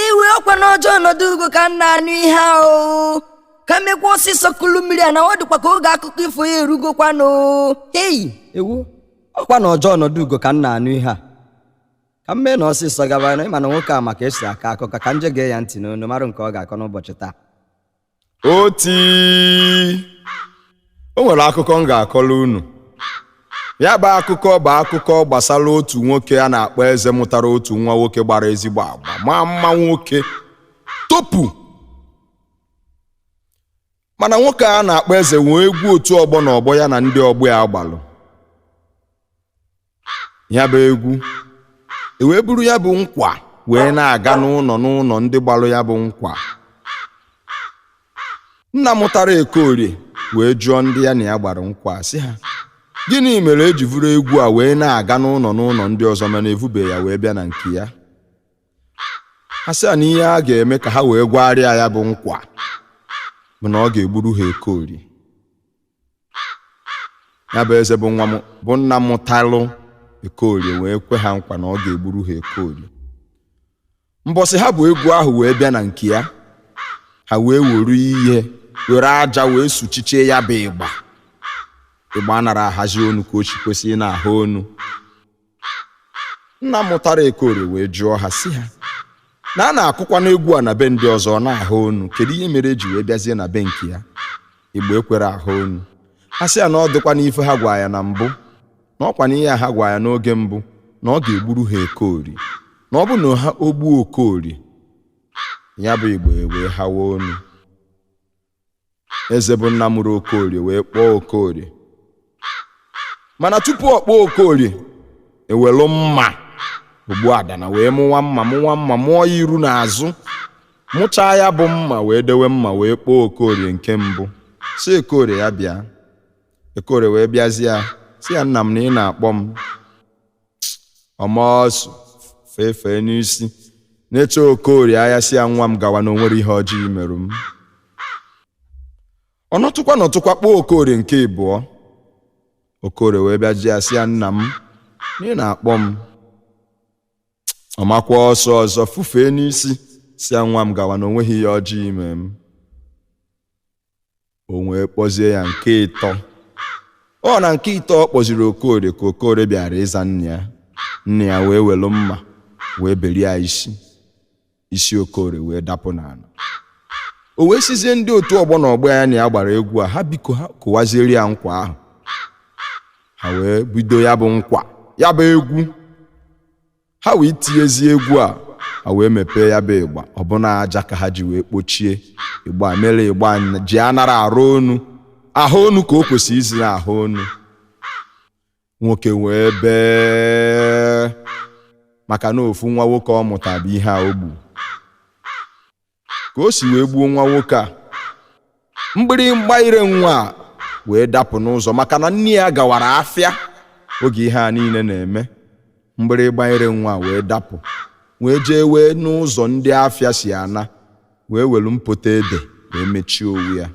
iwe ọkwa na ọja ọnọdụ ugo ka m na-anụ ihe ahụ ka m mekwa ọsịsọ kulu mmiri a na ọ dịkwa ka oge akụkọ ifo ya erugokwanụ hei ewu ọkwa na ọja ọnọdụ ugo ka m na-anụ ihe a ka m mee na ọsịsọ gaba na m ma na nwoke a ma ka e si akọ akụkọ ka m je gee ya ntị n'onu mara nke ọ ga-akọ n'ụbọchị taa oti o nwere akụkọ m ga-akọrọ unu ya bụ akụkọ bụ akụkọ gbasara otu nwoke a na-akpọ eze mụtara otu nwa nwoke gbara ezigbo agba maa mma nwoke topu mana nwoke a na-akpọ eze nwee egwu otu ọgbọ na ọgbọ ya na ndị ọgbọ ya gbalụ ya bụ egwu e wee buru ya bụ nkwa wee na-aga n'ụnọ n'ụnọ ndị gbalụ ya bụ nkwa nna mụtara Ekorie wee jụọ ndị ya na ya gbara nkwa sị ha gịnị mere e ji vuru egwu a wee na-aga n'ụnọ n'ụnọ ndị ọzọ mana evube ya wee bịa na nke ya ha sị ya na ihe a ga-eme ka ha wee gbaara ya ya bụ nkwa bụ na ọ ga-egburu ha ekorie ya bụ eze bụ nna mụtalụ ekorie wee kwe ha nkwa na ọ ga-egburu ha ekorie mbọsị ha bu egwu ahụ wee bịa na nke ya ha wee were ihe were aja wee suchichie ya bụ ịgba ịgba anara ahazi onu ka o si kwesị ị na-aha onu nna mụtara ekorie wee jụọ ha sị ha na a na-akụkwanụ egwu a na be ndị ọzọ ọ na-aha onu kedu ihe mere e ji wee bịazie na be nke ya ịgba ekwere aha onu ha sị ya na ọ dịkwanụ ife ha gwa ya na mbụ na ọkwa na ihe a ha gwa ya n'oge mbụ na ọ ga-egburu ha ekorie na ọ bụrụ na ha egbuo okorie ya bụ ịgba ewee hawa onu eze bụ nna mụrụ okorie wee kpọọ okorie mana tupu ọ kpọọ okorie ewelu mma ogbuadana wee mụwa mma mụwa mma mụọ ya iru na azụ mụchaa ya bụ mma wee dewe mma wee kpọọ okorie nke mbụ sị okorie ya bịa okorie wee bịa za ya sị ya nna m na ị na-akpọ m ọ maa ọsụ fefee n'isi nechaa okorie anya sị ya nwa m gawa na o nwere ihe ọjọọ i merụ m ọ nọtụkwa nọtụkwa kpọọ okorie nke ịbụọ okorie wee bịa jụọ ya sị ya nna m na ị na-akpọ m ọ makwa ọsụ ọzọ fufee n'isi sị ya nwa m gawa na o nweghị ihe ọjọọ i me m o wee kpọzie ya nke ịtọ ọ na nke ịtọ ọ kpọziri okorie ka okorie bịara ịza nna ya nna ya wee welu mma wee berie ya isi isi okorie wee dapụ n'ana o wee sizie ndị otu ọgbọ na ọgbọ ya na ya gbara egwu a ha biko ha kụwaziere ya nkwa ahụ ha wee bido ya bụ nkwa ya bụ egwu ha wee tiezie egwu a ha wee mepee ya bụ ịgba ọ bụ na aja ka ha ji wee kpochie ịgba mere ịgba anya- ji anarọ ara onu aha onu ka o kwesịrị izi na aha onu nwoke wee bee maka na ofu nwa nwoke ọ mụta bụ ihe a o gburu ka o si wee gbuo nwa nwoke a mgbịrịgba ire nwa a wee dapụ n'ụzọ maka na nne ya gawara afịa oge ihe a niile na-eme mgbịrịgba ire nwa a wee dapụ wee jee wee n'ụzọ ndị afịa si ana wee welu mpọtọ ede wee mechie onwe ya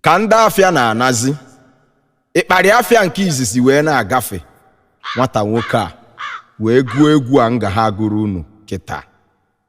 ka ndị afịa na-anazi ịkparị afịa nke izizi wee na-agafe nwata nwoke a wee gụọ egwu a m ga ha gụrụ unu kịta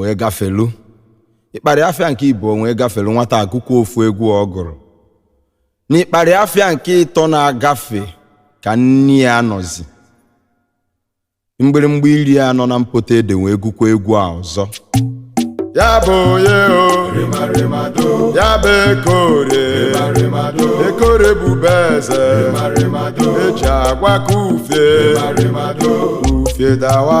wee gafelu ịkparị afịa nke ịbụọ wee gafelu nwata a gụkwuo ofu egwu ọ gụrụ n'ịkparị afịa nke ịtọ na-agafe ka nne ya nọzi mgbịrịmgba ire a nọ na mpọtọ ede wee gụkwa egwu a ọzọ ya bụ onye o ya bụ ekore ekore bube eze e ji agwa ka ufie ufie dawa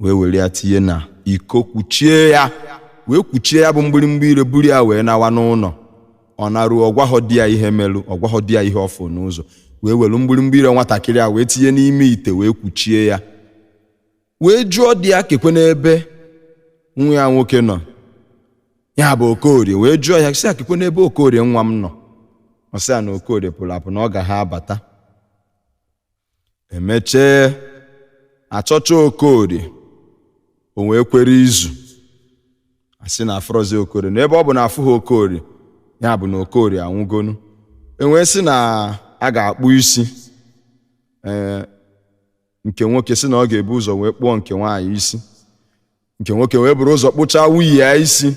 wee were ya tinye na iko kwuchie ya wee kwuchie ya bụ mgbịrịmgba ire buru ya wee nawa n'ụnọ ọ naruo ọ gwahọ di ya ihe melu ọ gwahọ di ya ihe ọ fụ n'ụzọ wee were mgbịrịmgba ire nwatakịrị a wee tinye n'ime ite wee kwuchie ya wee jụọ di ya kekwanụ ebe nwa ya nwoke nọ ya bụ okorie wee jụọ ya sị ya kekwanụ ebe okorie nwa m nọ ọ sị ya na okorie pụlụ apụ na ọ ga ha abata e mechee a chọcha okorie o wee kwere izu a sị na afụrọzi okorie na ebe ọ bụ na afụhọ okorie ya bụ na okorie anwụgonu e wee sị na a ga-akpụ isi ee nke nwoke sị na ọ ga-ebu ụzọ wee kpụọ nke nwaanyị isi nke nwoke wee buru ụzọ kpụchaa nwunye ya isi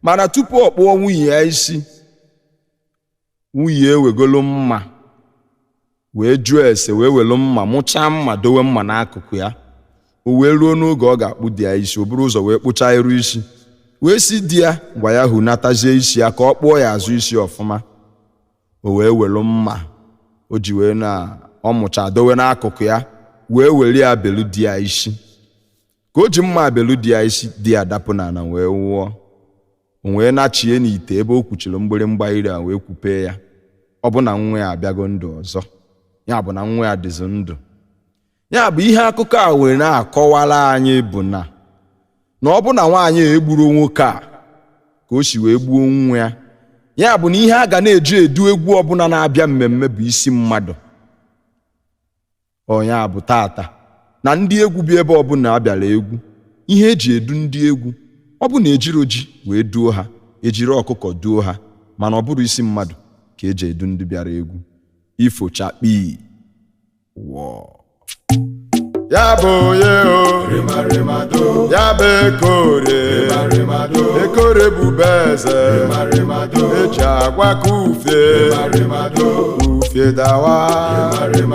mana tupu ọ kpụọ nwunye ya isi nwunye ewegolu mma wee jụọ ese wee welu mma mụchaa mma dowe mma n'akụkụ ya o wee ruo n'oge ọ ga-akpụ di ya isi o buru ụzọ wee kpụchaa iru isi wee sị di ya ngwa ya hunatazie isi ya ka ọ kpụọ ya azụ isi ọfụma o wee welu mma o ji wee na ọ mụcha dowe n'akụkụ ya wee were ya belu di ya isi ka o ji mma abelu di ya isi di ya dapụ n'ala wee nwụọ o wee nachie n'ite ebe o kwuchiri mgbịrịmgba ire a wee kwupee ya ọ bụ na nwa ya abịago ndụ ọzọ ya bụ na nwa ya dịzi ndụ ya bụ ihe akụkọ a were na-akọwara anyị bụ na na ọ bụ na nwaanyị a egburo nwoke a ka o si wee gbuo nwa ya ya bụ na ihe a ga na-eji edu egwu ọbụla na-abịa mmemme bụ isi mmadụ ọ ya bụ taata na ndị egwu bịa ebe ọbụla a bịara egwu ihe eji edu ndị egwu ọ bụ na ejiro ji wee duo ha ejiri ọkụkọ duo ha mana ọ bụrọ isi mmadụ ka eji edu ndị bịara egwu ifo chakpii wọọ ya bụ onye o ya bụ ekore ekore bube eze eji agwa ka ufie ufie dawa